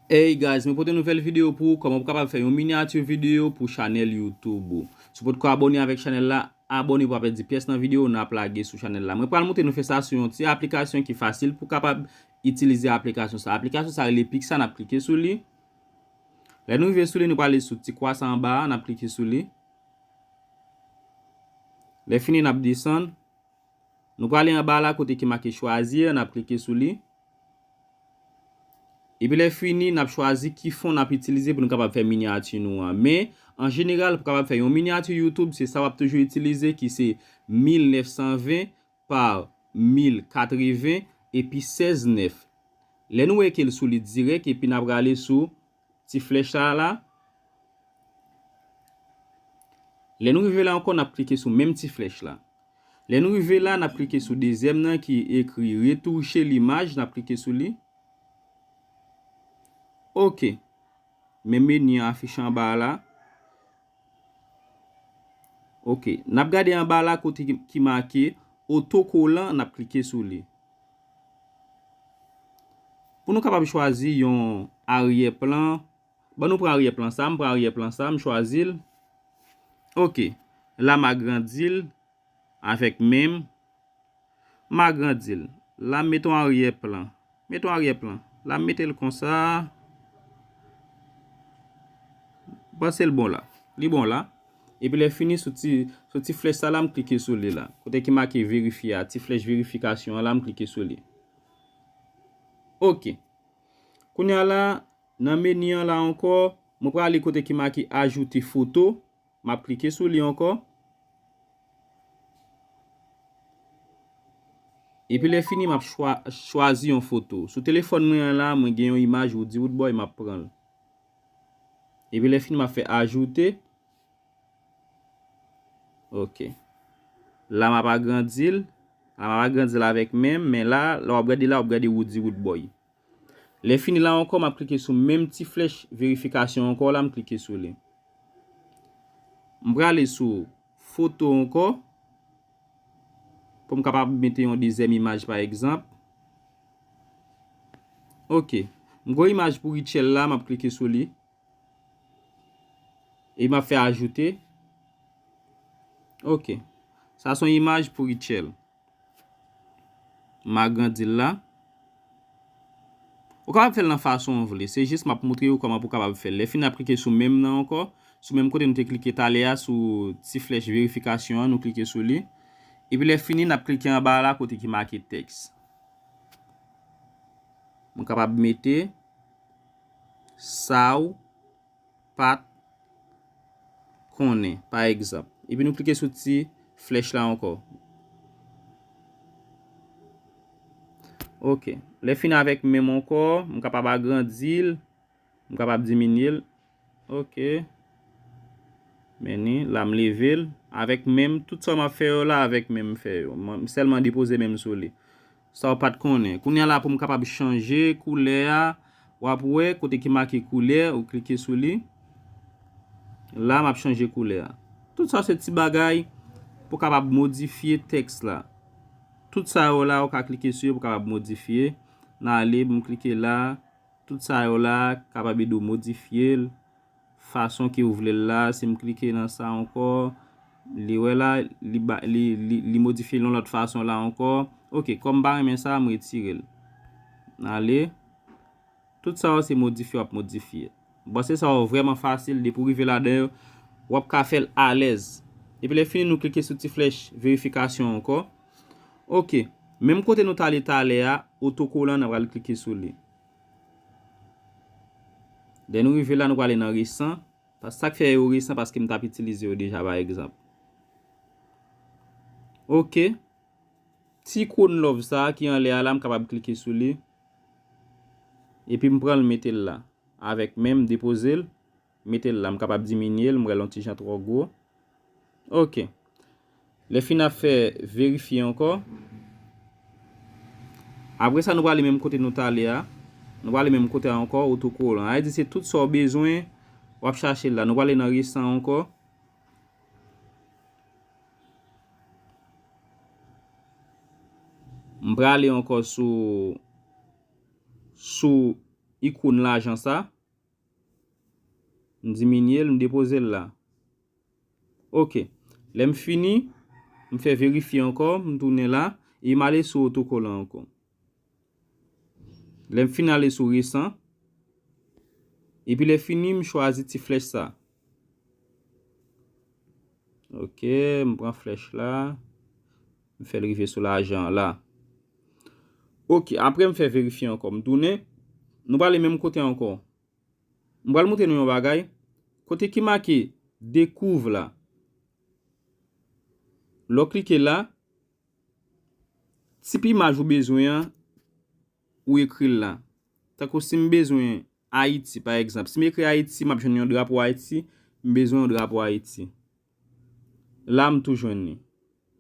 Hey guys mwen pote nouvel video pou ou koman pou kapab fè yon miniature video pou chanel youtube ou sou pot ko abone avek chanel la abone pou apè di pyes nan video nap lage sou chanel la mwen pral moutre nou fè sa sou yon ti aplikasyon ki fasil pou kapab itilize aplikasyon sa aplikasyon sa rele pik sa nap klike sou li lè nou ve sou li nou pale sou ti kwa sa anba nap klike sou li lè fini nap desann. Nou prale anba a la kote ki make choisir, nap klike sou li. Epi lè fini nap chwazi ki fon nap itilize pou nou kapab fè minyati nou an. Men, an jeneral pou kapab fè yon minyati YouTube se sa wap toujou itilize ki se 1920 par 1080 epi 16 9. Lè nou wè ke l solid dirèk epi nap prale sou ti flèch sa a la. Lè nou rive la ankò n ap klike sou menm ti flèch la. Lè nou rive la, n ap klike sou dezyèm nan ki ekri retouche limaj, n ap klike sou li. Ok. Men meni an afiche anba a la. Ok, n ap gade anba la kote ki make otokolan, n ap klike sou li. Pou nou kapab chwazi yon aryè plan, ban nou pran aryè plan sa, m pran aryè plan sa, m chwazi l. Ok, la m agrandi l. Avèk men m, m agrandi l. La m met on aryè plan. Met on aryè plan. La m mete l konsa. M panse l bon la. Li bon la. Epi lè fini sou ti, sou ti flèch sa la m klike sou li la. Kote ki make verifye a, ti flèch verifikasyon an la m klike sou li. Ok. Kounya la, nan meni an la ankò, mwen prale kote ki make ajoute foto. M ap klike sou li ankò. Epi lè fini m ap chwazi yon foto. Sou telefòn mwen an la, mwen gen yon imaj Woody Woodboy m ap pran l. Epi lè fini m ap fè ajoute. Ok. La m ap agrandi l. La m ap agrandi l avèk men m. Men la, lè w ap gade la, w ap gade Woody Woodboy. Lè fini la ankò map klike sou menm ti flèch verifikasyon ankò la m klike sou li. M prale sou foto ankò pou m kapab mete yon dezyèm imaj pa egzanp. Ok. M gen yon imaj pou Rutshelle la map klike sou li. E map fè ajoute. Ok. Sa son imaj pou Rutshelle. M agrandi l la. Ou kapab fè l nan fason ou vle. Se jis m ap moutre ou kòman pou w kapab fè l. Lè fini n ap klike sou menm nan ankò. Sou menm kote nou te klike talè a sou ti flèch verifikasyon an nou klike sou li. Epi lè fini n ap klike anba la kote ki make tèks. M kapab mete sa ou. pa t konnen, pa egzanp. Epi nou klike sou ti flèch la ankò. Ok, lè fin avèk menm ankò, m kapab agrandi l, m kapab diminye l. Ok, meni, la m leve l, avèk menm, tout sa m ap fè yo la avèk menm m fè yo. M sèlman depoze menm sou li. Sa w pat konnen. Kounye a la pou m kapab chanje koulè a, w ap wè kote ki make koulè, ou klike sou li. La m ap chanje koulè a. Tout sa se ti bagay pou kapab modifye tèks la. Tout sa yo la ou ka klike sou yo pou kapab modifye. Nan ale pou m klike la, tout sa yo la kapab ede w modifye l. fason ke ou vle l la, si m klike nan sa ankò, li wè la, li ba, li, li, li modifye l yon lòt fason la ankò, ok, kòm m pa renmen sa, m retire l, m ale, tout sa yo se modifye w ap modifye, m panse sa yo vrèman fasil, depi w rive ladan yo, w ap ka fè l alèz, epi lè fini nou klike sou ti flèch verifikasyon ankò, ok, menm kote nou t ale talè a, otokolan nan pral klike sou li. Lè nou rive la nou prale nan resan, sak fè yo resan paske m tap itilize yo deja pa egzanp. Ok, ti ikon love sa ki anlè a la m kapab klike sou li, epi m pranl metel la avèk menm depozel, Mete l la m kapab diminye l m wè l on ti jan twò gwo ok lè fin ap fè verifye ankò apre sa nou prale menm kote nou t ale a nou prale menm kote a ankò otokolan sa vle di se tout sa w bezwen w ap chache la nou prale nan resan ankò. M prale ankò sou sou ikon lajan sa. M diminye l, m depoze l la. Ok. Lè m fini, m fè verifye ankò, m tounen la, e m ale sou otokolan ankò. Lè m fin ale sou resan, epi lè fini m chwazi ti flèch sa a. Ok, m pran flèch la. M fè l rive sou lajan la. Ok, apre m fè verifye ankò. M tounen. Nou prale menm kote ankò. M pral montre nou yon bagay. Kote ki make dekouv la. Lè w klike la. Tip imaj ou bezwen an. Ou ekri l la. Tako si m bezwen. Ayiti, pa egzanp, si m ekri Ayiti, m ap jwenn yon drapo Ayiti, m bezwen yon drapo Ayiti. La, m tou jwenn li.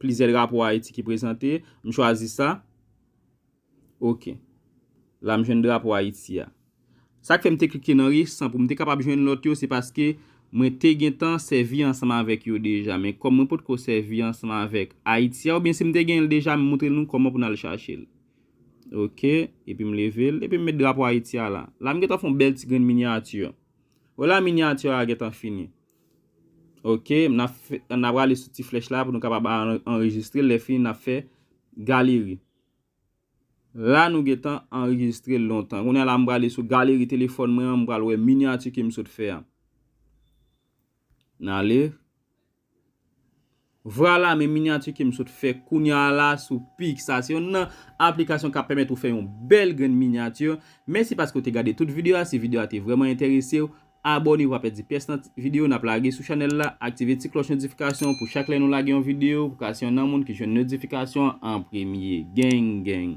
Plizyè drapo Ayiti ki prezante, m chwazi sa. Ok. La, m jwenn drapo Ayiti a. Sa k fè m te klike nan resan pou m te kapab jwenn lòt yo, se paske mwen te gentan sèvi ansanm avèk yo deja. Men kòm mwen potko sèvi ansanm avèk Ayiti a, oubyen si m te gen l deja, m moutre nou kòman pou n al chache l. Ok, epi m leve l, epi m met drapo Ayiti a la. La m gentan fè yon bèl ti grenn minyati. Wè la minyati a gentan fini. Ok, n ap fè, n ap rale sou ti flèch la pou nou kapab anrejistre l, lè fini n ap fè galeri. La nou gentan anrejistre l lontan. Kounye a la m prale sou galeri telefòn mwen an, m pral wè minyati ke m sot fè a. N ale. Vrala men minyati kem sot fè kounya la sou picsa se yonn nan aplikasyon kap pèmèt ou fè yon bèl grenn minyati mèsi paske ou te gade tout video a si video a te vrèman enteresew abòne pou pa pèdi pyès nan video nap lage sou chanèl la aktive ti klòch notifikasyon pou chak lè nou lage yon video pou ka se yonn nan moun ki jwenn notifikasyon an premye geng geng.